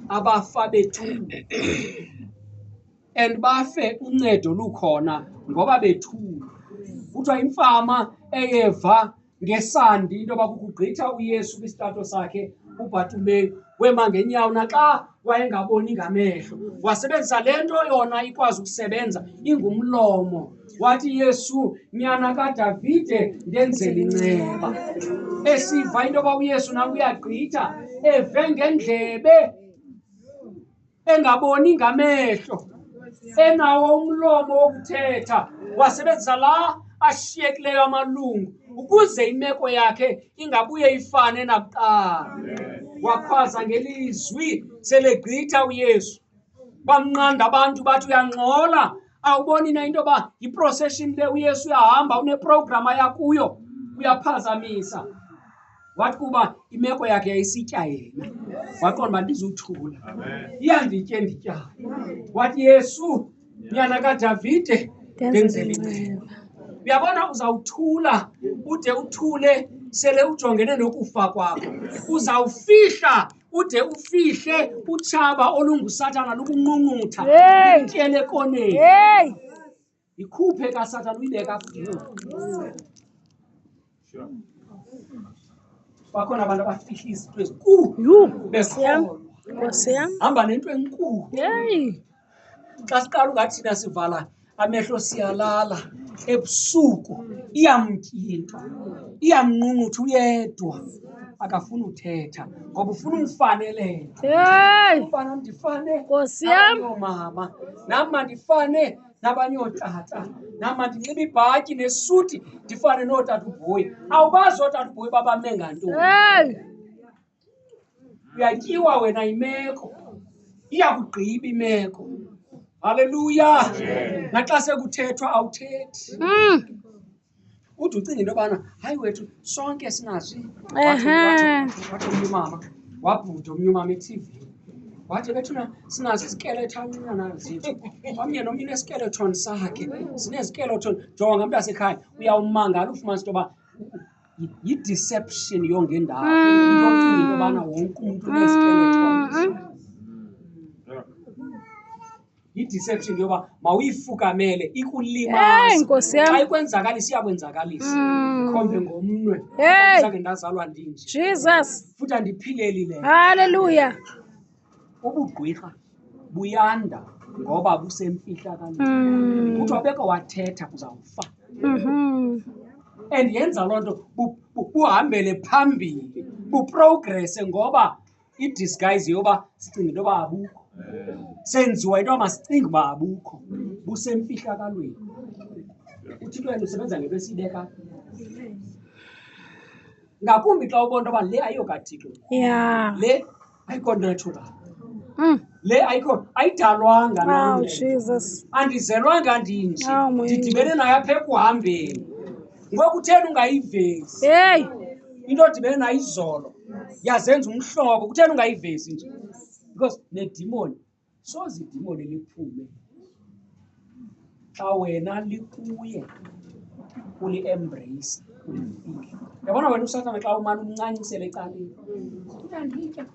abafa bethuka and bafe uncedo lukhona ngoba bethuka kuthiwa imfama eyeva ngesandi into yoba kukugqitha uyesu kwisitato sakhe ubhatumeyi wema ngenyawo naxa wayengaboni ngamehlo wasebenzisa le nto yona ikwazi ukusebenza ingumlomo wathi yesu nyana kadavide ndenzela inceba esiva into yoba uyesu nam uyagqitha eve ngendlebe engaboni ngamehlo enawo umlomo wokuthetha wasebenzisa la ashiyekileyo amalungu ukuze imeko yakhe ingabuye ifane nakuqala wakhwaza ngelizwi selegqitha uyesu bamnqanda abantu bathi uyangxola awuboni na into yoba yiprocession le uyesu uyahamba uneprogram aya kuyo uyaphazamisa wathi kuba imeko yakhe yayisitya yena waqonda uba ndizuthula iyanditye ndityana wathi yesu nyana kadavide ndenzele inceba uyabona uzawuthula ude uthule sele ujongene nokufa kwakho uzawufihla ude ufihle utshaba olungusathana lukunqunqutha intyele koneni ikhuphe kasathana uyibeka futhi Sure. bakhona abantu abafihla izinto ezinkulu Yhu, Nkosi yam, besolwa Nkosi yam. hamba nento enkulu Yeyi. xa siqala ungathi thina sivala amehlo siyalala ebusuku iyamtya into iyamnqunqutha uyedwa akafuni uthetha ngoba ufuna umfanelele Yeyi. umfana ndifanele Nkosi yam. mama nam mandifane nabanye ootata nam mandinxibe ibhatyi nesuti ndifane nootata ubhoyi awubazi ootata ubhoyi babame ngantoni uyatyiwa wena imeko iyakugqiba imeko halleluya naxa sekuthethwa awuthethi mm. ude ucinga into yobana hayi wethu sonke sinazo wathi omnye umama wabhuda omnye umama ethivini wathi bethuna sinazo izikeletanana zethu omnye nomnye uneskeleton sakhe sinezikeleton jonga ngamntu asekhaya uyawumangala ufumanisa into yoba yi-deception yongendawo into ocinga into yobana wonke umntu unezikeleton yi-deception into yoba mawuyifukamele Hey, ikulimaze Nkosi yam. xa ikwenzakala isiyakwenzakalisa Mm. khombe ngomnwe Hey. zange ndazalwa ndinje Jesus. futhi andiphileli le Hallelujah. ubugqwirha buyanda ngoba busemfihlakalweni Mm. kuthiwa beke wathetha uzawufa Mhm. and yenza loo nto bu- bu- buhambele phambili buprogrese ngoba idisguise yoba sicinga into yoba abukho senziwa into yoba masicinga uba abukho busemfihlakalweni uthixo yena usebenza ngento esiyibeka ngakumbi xa ubona into yoba le ayiyokathixo ya le ayikho natural Mm. le ayikho ayidalwanga nam Wow, le. Jesus. andizelwanga ndinje Awu, Mwenje. ndidibene nayo apha ekuhambeni ngoku utheni ungayivezi heyi into odibene nayo izolo yazenza umhlobo kutheni ungayivezi nje because nedimoni soze idimoni liphume xa wena likuye uli-embrace ulifile yabona wena usatana xa umane umncancisele ecaleni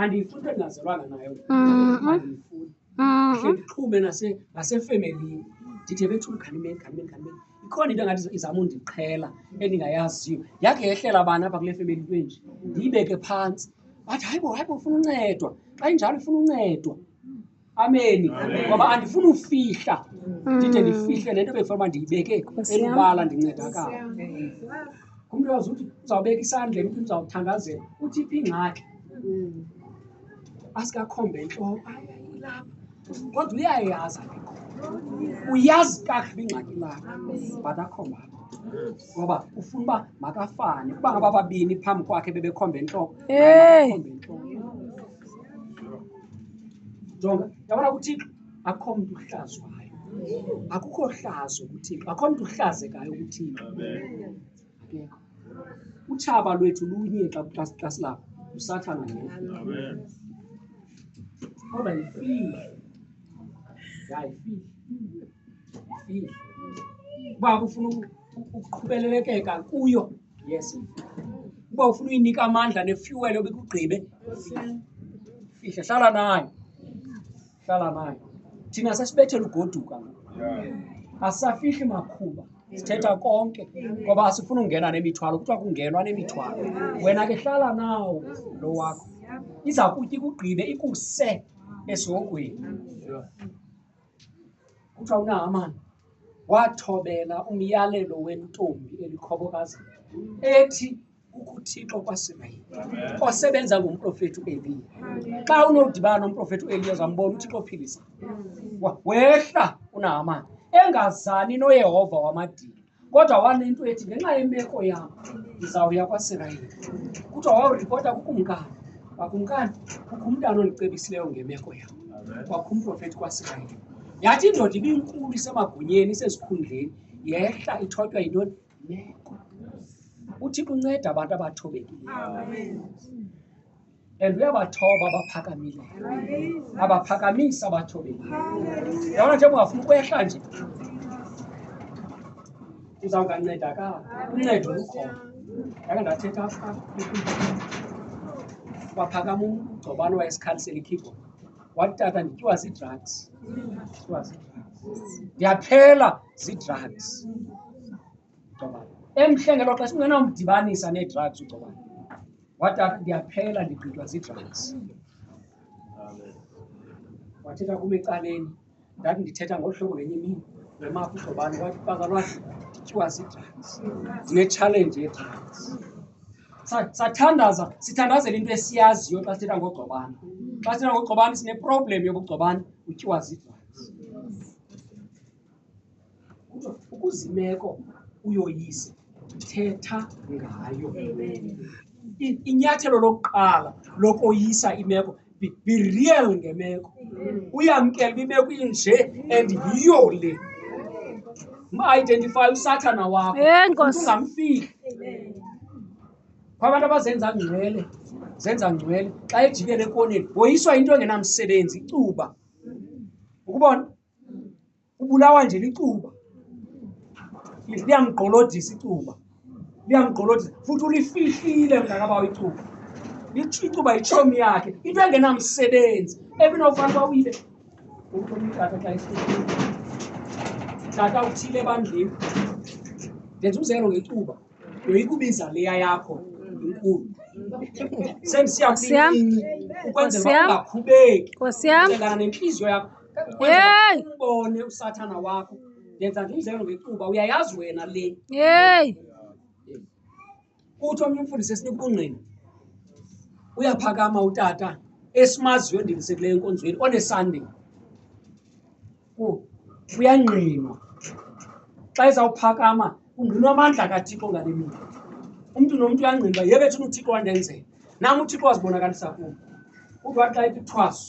andiyifuni into endingazalwanga nayo Mhm. andiyifuni Mhm. hle ndixhume nase- nasefemelini ndithe bethula uganimeni ganimeni ganimeni ikhona into engathi izama undiqhela endingayaziyo yakhe yehlela bani apha kule femeli into enje ndiyibeke phantsi bathi hayibo hayibo ufuna uncedwa xa injalo ufuna uncedwa ameni ngoba andifuni ufihla ndide ndifihle le nto bekufanele uba ndiyibeke Nkosi yam. elubala ndincedakala ngumntu wazi uthi uzawubeka isandla emntwini uzawuthandazela uthi phi ingxaki asikakhombe entloko ayayilapha kodwa uyayazi apho uyazi kakuhle ingxaki lakho but akhomba apho ngoba ufuna uba makafane uba ngaba babini phambi kwakhe bebekhombe entloko Hey. akhombe entloko jonga yabona kuthixo akho mntu uhlazwayo akukho hlazo kuthixo akho mntu uhlazekayo kuthixo akekho utshaba lwethu lunye xa xa silapho usathana yena kodwa yifihle ya yifihle yifihle uba kufuna ukuqhubelelekeka kuyo yes uba ufuna uyinika amandla nefuel obikugqibe fihle hlala nayo hlala nayo thina sesibethela ugoduka asisafihli makhuba sithetha konke ngoba asifuni ungena nemithwalo kuthiwa kungenwa nemithwalo wena ke hlala nawo lo wakho iza kutya ikugqibe ikuse esihogweni kuthiwa unahamani wathobela umyalelo wentombi elikhobokazi ethi ukuthixo kwasirayeli osebenza ngumprofeti ueliya xa unodibana nomprofeti ueliya zambona uthixo ophilisa wehla unahamani engazani noyehova wamadini kodwa wanento ethi ngenxa yemeko yam ndizawuya kwasirayeli kuthiwa wawuripota kukumkani wakumkani kukho umntana ondicebisileyo ngemeko yam kwakho umprofethi kwasirayeli yathi indoda ibinkulu isemagunyeni isezikhundleni yehla ithotywa yintoni meko uthixo unceda abantu abathobekileyo and uyabathoba abaphakamileyo abaphakamisa abathobeli yabona njengoba ufuna ukwehla nje uzawungancedakala uncedo lukhona yake ndathetha apha waphakama umgcobane wayesikhalisela ikeyboard wathi tata ndityiwa zii-drugs ndityiwa zii-drugs ndiyaphela zii-drugs ugcobane emhle ngelo xesha ungenawumdibanisa nee-drugs ugcobane wada ndiyaphela ndigqitywa zii-drugs wathetha kum ecaleni ndathi ndithetha ngolu hlobo ngenye imini lwemapha uhlobane wathi baka lwathi ndityiwa zii-drugs ndinetshalenji yee-drugs Sa- sathandaza sithandazela into esiyaziyo xa sithetha ngogcobane xa sithetha ngogcobane sineproblem yobugcobane utyiwa zii-drugs Kuthiwa ukuze imeko uyoyise, thetha ngayo. I- Inyathelo lokuqala lokoyisa imeko, be, be real ngemeko. Uyamkela uba imeko inje and yiyo le. Maidentify usathana wakho. Eh, Nkosi. Ungamfihli. Kwabantu abazenza ngcwele, zenza ngcwele xa ejikela ekoneni, woyiswa into engenamsebenzi, icuba. Ukubona? ubulawa nje licuba liyamgqolodisa icuba liyamgqolodisa futhi ulifihlile mntakabawo icuba icuba yitshomi yakhe into engenamsebenzi ebinofanele uba uyibe ukumtata xa ifihlile tata uthile ebandleni ndenza umzekelo ngecuba yoyikubiza leya yakho inkulu sendisiya kwincinci ukwenzela uba ungakhubeki ucelana nentliziyo yakho Yey! umbone usathana wakho ndenza nje umzekelo ngecuba uyayazi wena le Yey! uthi omnye umfundisi esinibungqina uyaphakama utata esimaziyo endilisekileyo enkonzweni onesande ku uyangqinwa xa ezawuphakama ungqinwa amandla kathixo ngale mini umntu nomntu uyangqinwa yebethuna uthixo wandenzela nam uthixo wazibonakalisa kum uthi wathi xa ethi thwaso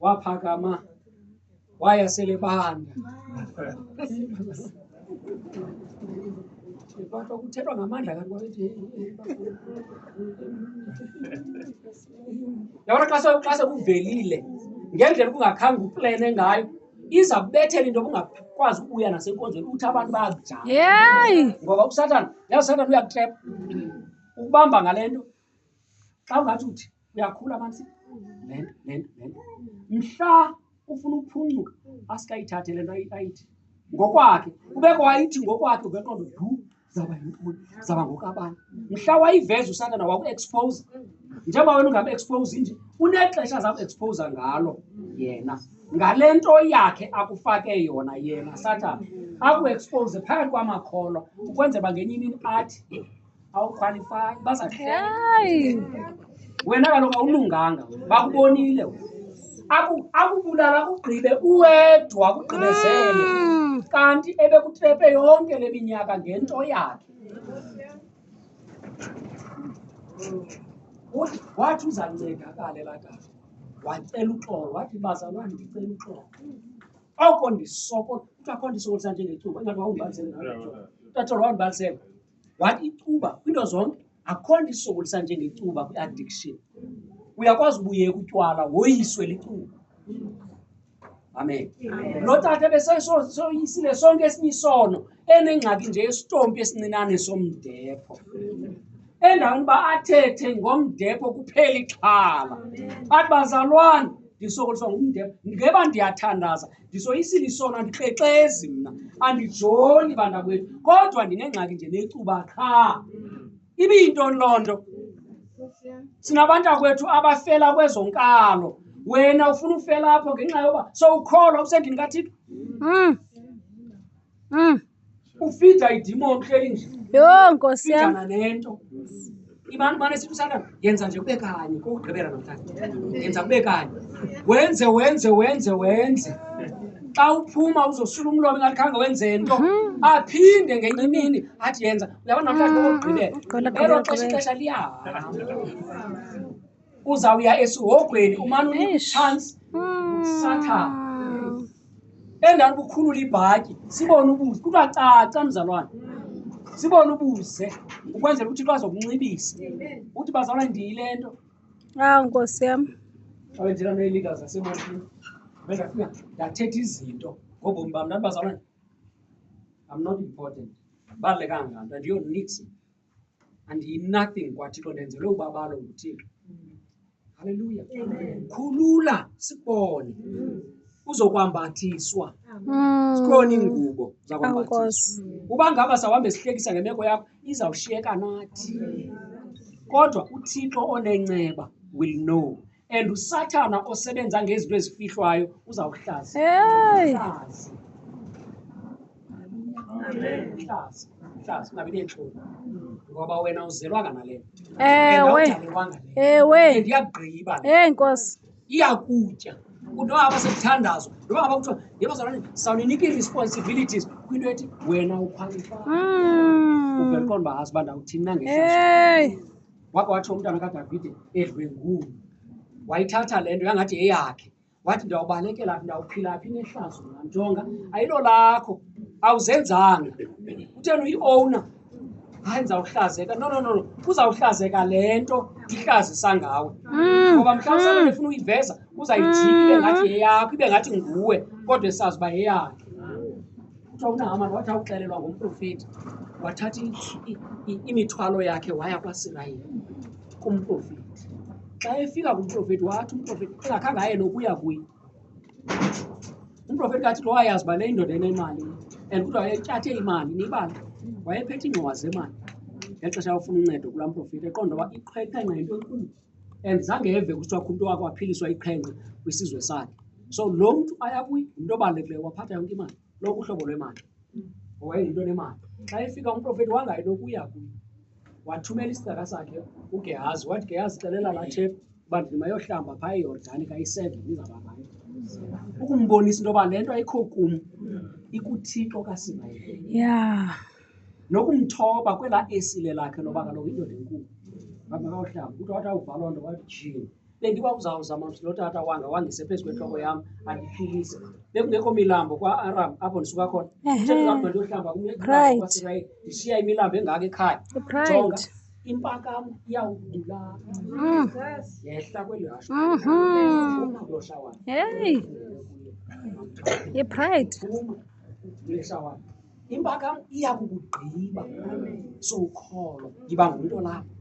waphakama waya selebanda kodwa kuthethwa ngamandla kanti kwabethi yabona xa se- xa sekuvelile ngendlela ubungakhange uplene ngayo iza kubethela into obungakwazi ukubuya nasenkonzweni uthi abantu bayakujama Yay! ngoba usatan yazi usatan uyakutrep ukubamba ngale nto xa ungathi uthi uyakhula mansi le nto le nto le nto mhla ufuna ukuphuncuka asikayithathe le nto ayi- ayithi ngokwakhe ubeke wayithi ngokwakhe ubeqondo du zaba yintoni zaba ngokabani mhla wayiveza usatana waku-expose njengoba wena ungam-expose nje unexesha zaku-expose ngalo yena ngale nto yakhe akufake yona yena satana aku-expose phakathi kwamakholwa ukwenzela uba ngenye imini athi awukhwalifaki bazahayi wena kaloku awulunganga bakubonile akubulala kugqibe uwedwa kugqibezele mm. kanti ebekutrepe yonke le minyaka ngento yakhe wathi uzancedakale lakade wacela uxolo wathi bazalwane ndicela uxolo oko ndisoko kuthiwa kho ndisokolisa njengecuba ingathi wawundibalisele tatolo wawundibalisele wathi icuba kwiinto zonke akho nto isokolisa njengecuba kwi-addiction uyakwazi ubuyeka utywala woyiswe licuba amen lo tata besesoyisile sonke esinye isono enengxaki nje esitompi esincinane somdepho endaweni uba athethe ngomdepho kuphela ixhala athi bazalwane ndisokoliswa ngumdepho ngeba ndiyathandaza ndisoyisile isono andikrexezi mna andijoli bantakwethu kodwa ndinengxaki nje necuba qha ibiyintoni loo nto sinabantakwethu abafela kwezo nkalo wena ufuna ufela apho ngenxa yoba sowukholwa usendini kathixo mm. Mm. ufida idimo uhleli nje Yho nkosi yam. fidana nento imani mane sithi usatana yenza nje kube kanye kokugqibela namhlanje yenza kube kanye wenze wenze wenze wenze xa uphuma uzosula umlomo ingathi khange wenze nto aphinde ngenye imini athi yenza uyabona namhlanje kokugqibela Gqibela, elo gqibela, xesha gqibela. ixesha liyahamba uzawuya esihogweni umane unika chance satha endaweni ukukhulula ibhatyi sibone ubuze kuthiwa caca mzalwane sibone ubuze ukwenzela ukuthi bazokunxibisa ukuthi bazalwa ndiyile nto awu nkosi yam awenzela neelida zasebotini bendafika ndathetha izinto ngobomi bam ndandibazalwane i'm not important balulekanga nto and you're nixon andiyinothing kwathixo ndenzelwe ubabalo nguthixo halleluya khulula sibone uzokwambathiswa sikhona iingubo zakwambathiswa uba ngaba sawuhambe sihlekisa ngemeko yakho izawushiyeka nathi kodwa uthixo onenceba will know and usathana osebenza ngezinto ezifihlwayo uzawuhlaza Hey. Hlaza. Hlaza. Hlaza, ungabi neentloni ngoba wena uzelwanga nale nto And Ewe. awudalelwanga le nto. Ewe. And iyakugqiba le nto. Hey Nkosi. iyakutya kunto aba sekuthandazo noba ngaba kuthiwa yebazalwane sawuninika ii-responsibilities kwinto ethi wena ukhwalifaya Mm. uvele qonda uba azi uba ndawuthini na ngehlazo Hey. wake watsho umntana kadavide edlwengulu wayithatha le nto yangathi yeyakhe wathi ndiyawubalekela phi ndawuphila phi nehlazo nantonga ayilo lakho awuzenzanga kutheni uyiowna hayi ndizawuhlazeka no no no no kuzawuhlazeka le nto ndihlazisa ngawe mm. ngoba mhlawumbi mm. sabe efuna uyiveza uzayijiki ibe ngathi mm. yeyakho ibe ngathi nguwe kodwa esazi uba yeyakhe kuthiwa unahamani wathi awuxelelwa ngumprofeti wathatha imithwalo yakhe waya kwasirayeli kumprofeti xa efika kumprofeti wathi umprofeti engakhange aye nokuya kuye umprofeti kathi lo wayazi uba le indoda enemali and kuthiwa wayetyathe imali nibala wayephethe iingxowa zemali ngexesha yawufuna uncedo kulaa mprofeti eqonda uba iqhweqhenqa yinto enkulu and zange eve kuthiwa umntu wakho aphiliswa iqhenqe kwisizwe sakhe so lo mntu aya kuyi ngumntu obalulekileyo waphatha yonke imali lonke uhlobo lwemali wayeyinto nemali xa efika umprofeti wangayi nokuya kuyo wathumela isicaka sakhe ugehazi wathi gehazi xelela lathepha uba ndimayohlamba phaa eyordani kayiseven izababani ukumbonisa into yoba le nto ayikho kum ikuthixo kasimayile yeah. nokumthoba kwela esile lakhe loba kaloku indoda enkulu babakawuhlamba kuthi wathi awuvalwa nto wathi jini bendiba uzawuzama mthi lotata wanga wangise phezu kwentloko yam andiphilise bekungekho milambo kwa-aram apho ndisuka khona ndiyokhlamba kumyekwaisrayeli ndishiya imilambo engaka ekhaya jonga impakam iyawudulaa mm. yehla kweli hasho mm-hmm. ipride impakam iya kukugqiba sowukholwa yiba ngumntu olapho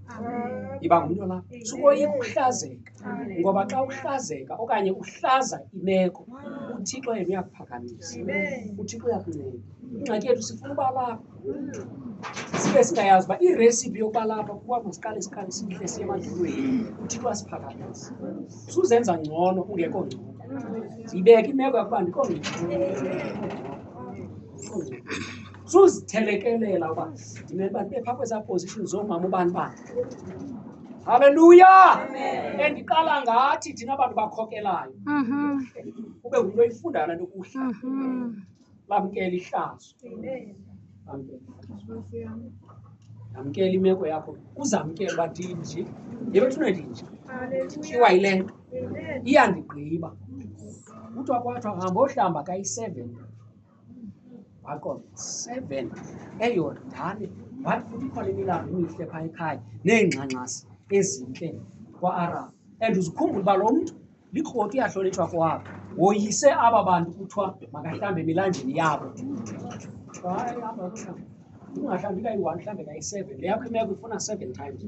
yiba ngumntu olapho sukoyika ukuhlazeka ngoba xa uhlazeka okanye uhlaza imeko uthixo yena uyakuphakamisa uthixo uyakunceda ingxaki yethu sifuna uba lapha sibe singayazi uba iresipi yokuba lapha kuba masiqale siqale sihle siye emadlulweni uthixo asiphakamisa suzenza ngcono ungekho ngcono yibeke imeko yakuba ndikho ngcono suzithelekelela uba ndimele uba ndibe phaa kwezaa position zoomama ubani bani halleluya endiqala ngathi thina bantu bakhokelayo Mhm. ube ngumntu oyifundayo le nto kuhla Mhm. lamkela ihlazo Lamkela ihlazo. yamkela imeko yakho uzamkela uba ndinje yebethuna ndinje kuthiwa yile nto iyandigqiba kuthiwa kwathiwa hamba ohlamba kayi-seven waqonda seven eyordane wathi futhi ikhona imilambo emihle phaa ekhaya neengxangxasi ezintle kwa-arab and uzikhumbula uba lo mntu likroti uyahlonitshwa kwabo woyise aba bantu kuthiwa makahlambe emilanjeni yabo Hayi, hamba, hamba. ungahlambi kayi-one mhlawumbe kayi-seven le yakho imeko ifuna seven times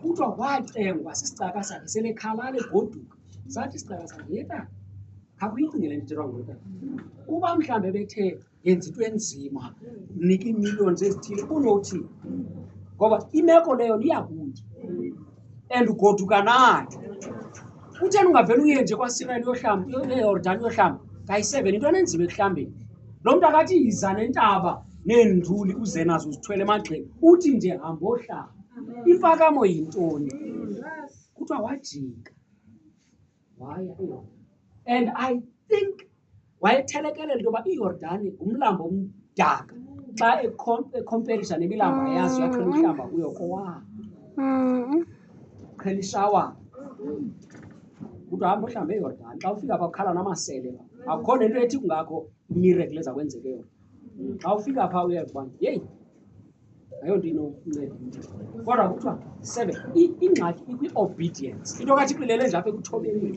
kuthiwa wacengwa sisicaka sakhe selekhalala egoduka sathi isicaka sakhe yeta akuyicingele ndirongo ta uba mhlawumbi ebethe yenza into enzima mnika iimillions ezithile kunothi ngoba imeko leyo niyakuye and ugoduka nayo kutheni ungavele uye nje kwasirayeli yohlamba eyordani yohlamba kayi-seven into enenzima ekuhlambeni lo mntu akathi yiza nentaba neenduli uze nazo zithwele emagxeni uthi nje hambohlamba imfakamo yintoni kuthiwa wajika waya eYordani and i think wayetherekelela into yoba iyordani ngumlambo omdaka xa ekhomperisa nemilamba yazo yaqhela uhlamba kuyo kowa qhela ishawa kuthi hamba ohlambe eyordani xa ufika pha kukhala namasele akukho nento ethi kungakho imirekle eza kwenzeke yona xa ufika pha uye kubantu yeyi ayonto inokunceda kodwa kuthiwa seven ingxaki ikwi-obedience into kathi iqilele nje apha ekuthobekeni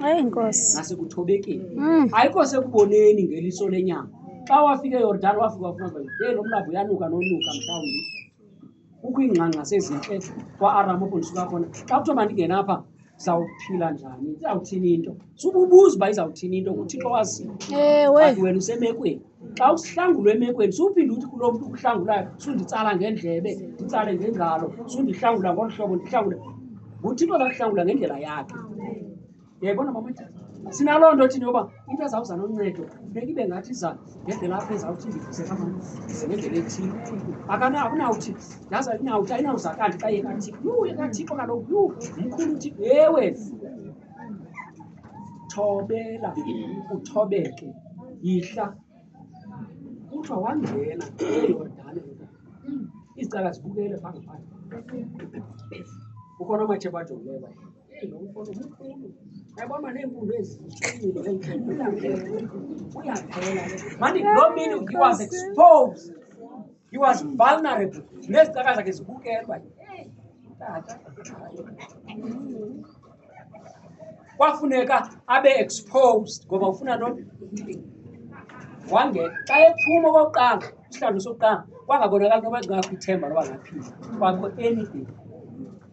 nasekuthobekeni mm. ayikho sekuboneni ngeliso lenyama xa wafika eyordani wafika wafuna uba ye lo mlabo uyanuka nonuka mhlawumbi kukho iingxangxa sezintle kwa-aram oku ndisuka khona xa kuthiwa mandingenapha sawuphila njani izawuthini into sububuza uba izawuthini into nguthixo waziyo ewe but wena usemekweni xa usihlangulwa emekweni suphinde uthi kulo mntu ukuhlangulayo sunditsala ngendlebe nditsale ngengalo sundihlangula ngolu hlobo ndihlangule nguthixo zakuhlangula ngendlela yakhe yayibona mama sinaloo nto thini yoba into ezawuza noncedo funeka ibe ngathi izana Ngeke lapha ezawuthi ndivusela mama. Ngeke ethile. Akana akunawuthi. Yazi ayinawuthi ayinawuzakala xa yeka thi. Yu yeka thixo kaloku yu mkhulu uthi ewe. Thobela uthobeke. Yihla. Kuthiwa wangena eYordane. Izicaka zibukele phambi phambi. Ukhona amathemba ajongileyo. Mani, lo mini he was exposed. He was vulnerable. Nezicaka zakhe zibukelwa. Kwafuneka abe exposed ngoba ufuna loo wangena xa ephuma okokuqala isihlalo sokuqala kwangabonakali noba ngakho ithemba loba ngaphila kwakho anything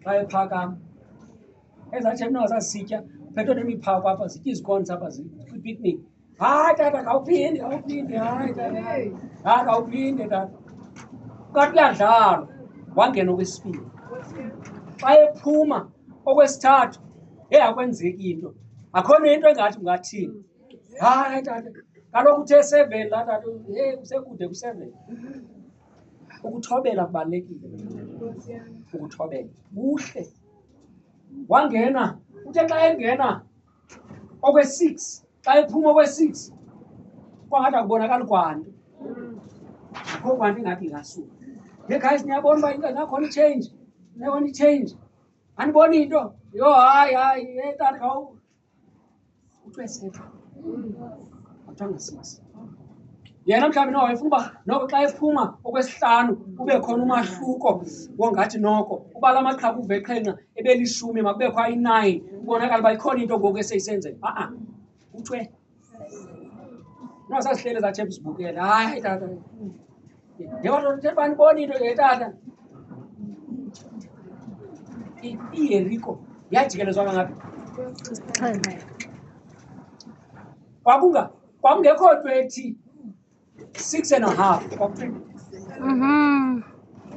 xa ephakama ezathi mna wasasitya phethwe nemiphako apha zitya izikonsi apha kwipicnic hayi tata khawuphinde khawuphinde hayi tata hayi khawuphinde tata kathi kuyadlalwa wangena okwesibini xa ephuma okwesithathu hey akwenzeki into akhona into engathi ungathini hayi tata kaloku uthe seven la tata hey usekude kuseven Ukuthobela kubalulekile. Ukuthobela kuhle. Wangena uthe xa engena okwe-six xa ephuma okwe-six kwangathi akubonakali kwanto akho kwanto ingathi ingasuka ye guys niyabona uba into nakhona i-change niyabona i-change andiboni into yho hayi hayi ye tata yena mhlawumbi noko efuna uba noko xa ephuma okwesihlanu kube khona umahluko wongathi noko uba la maqhaku uveqhenqa ebelishumi makubekho ayi-nine kubonakala uba ikhona into ngoku eseyisenzeka a-a kuthiwe No, sasihlele zathi ebusibukela. Hayi tata. Njengoba nje banibona into nje tata. I- IYeriko yajikelezwa ngaphi? Isixhenxe. Kwakunga kwakungekho nto ethi six and a half mhm.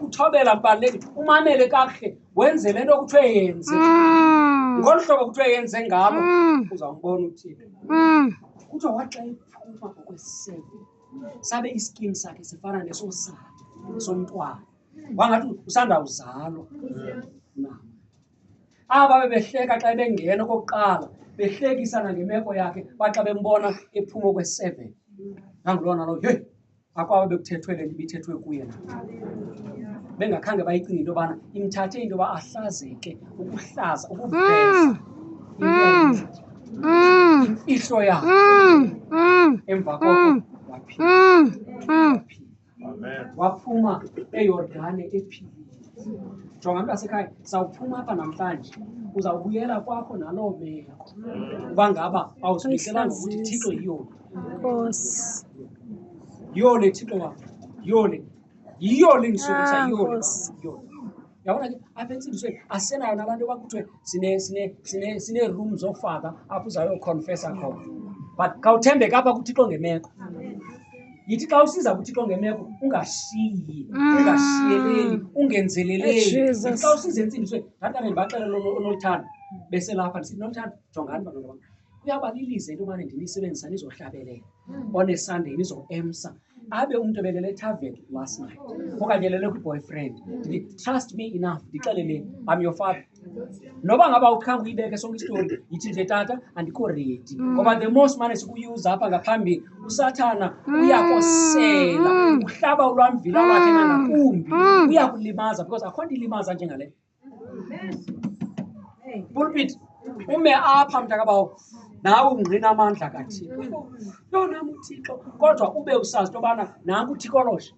uthobela kubalulekile umamele kakuhle wenze le nto kuthiwe yenze mm. ngolu hlobo kuthiwe yenze ngabo mm. uzawumbona uthile mm. kuthiwa waxa iphuma ngokwesebe sabe iskin sakhe sifana nesosakhe somntwana wangathi usandawuzalwa aba bebehleka xa ebengena okokuqala behlekisana ngemeko yakhe baxa bembona ephuma okweseven nangulona lo heyi akwaba bekuthethwe le nto ibithethwe kuye na bengakhange bayicinga into yobana imthathe into yoba ahlazeke ukuhlaza ukuveza mm. imfihlo yakhe mm. mm. emva koko waphila Amen. waphuma eyordane ephilile jonga mntasekhaya sawuphuma apha namhlanje uzawubuyela kwakho naloo meko uba ngaba awuzibiselanga ukuthi thixo yiyona Nkosi. yiyona thixo wam yiyona yiyona endisukusa Ah, yiyona Nkosi. yiyona yaona ke apha entsingisweni asenayo nalaa nto kwakuthiwe sine-room zofaka apho uzayokhonfesa khona but khawuthembeka apha kuthixo ngemeko yithi xa usiza kuthixo ngemeko ungashiyi mm. ungashiyeleli ungenzeleleli xa usiza entsingisweni ndathi kanti ndibaxela lonoluthando beselapha ndisithi noluthando jongani bantwana bam kuyabalibiza into yobana ndinisebenzisa nizohlabelela mm. onesandeni izoemsa abe umntu ebelele etaven last night okanye elele kwi-boyfriend trust me enough ndixelele am your father noba ngaba ukhanga uyibeke sonke isitori yithi nje tata andikho redi mm. ngoba the most mane sikuyuza apha ngaphambi usathana mm. uyakosela mm. uhlaba ulwamvila lwakhe nangakumbi uyakulimaza because akho nto ilimaza njengaleyo pulpit ume apha mntakabawo nawe ungqina amandla kathixo yona muthixo kodwa ube usazi into yobana nanku uthikoloshe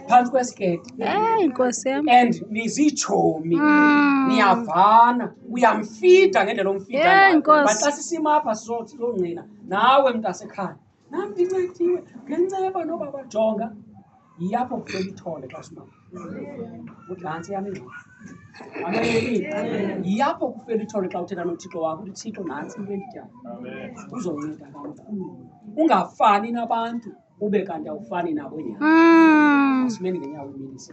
phantsi kwesiketi eyi nkosi yam and nizitshomi mm. niyavana uyamfida ngendlela omfidabaxa sisimapha sizongqina nawe mntu asekhaya nam ndincediwe ngenceba noba bajonga yiyapho kucela ithole xa simama uthi ngantsi yam ingxoxo yiyapho kufela ithole xa uthetha nothixo wakho uthi thixo nantsi into endidyayo uzonceda kakhulu ungafani nabantu ube kanti awufani nabo nyana asimeni ngenyawo iminisi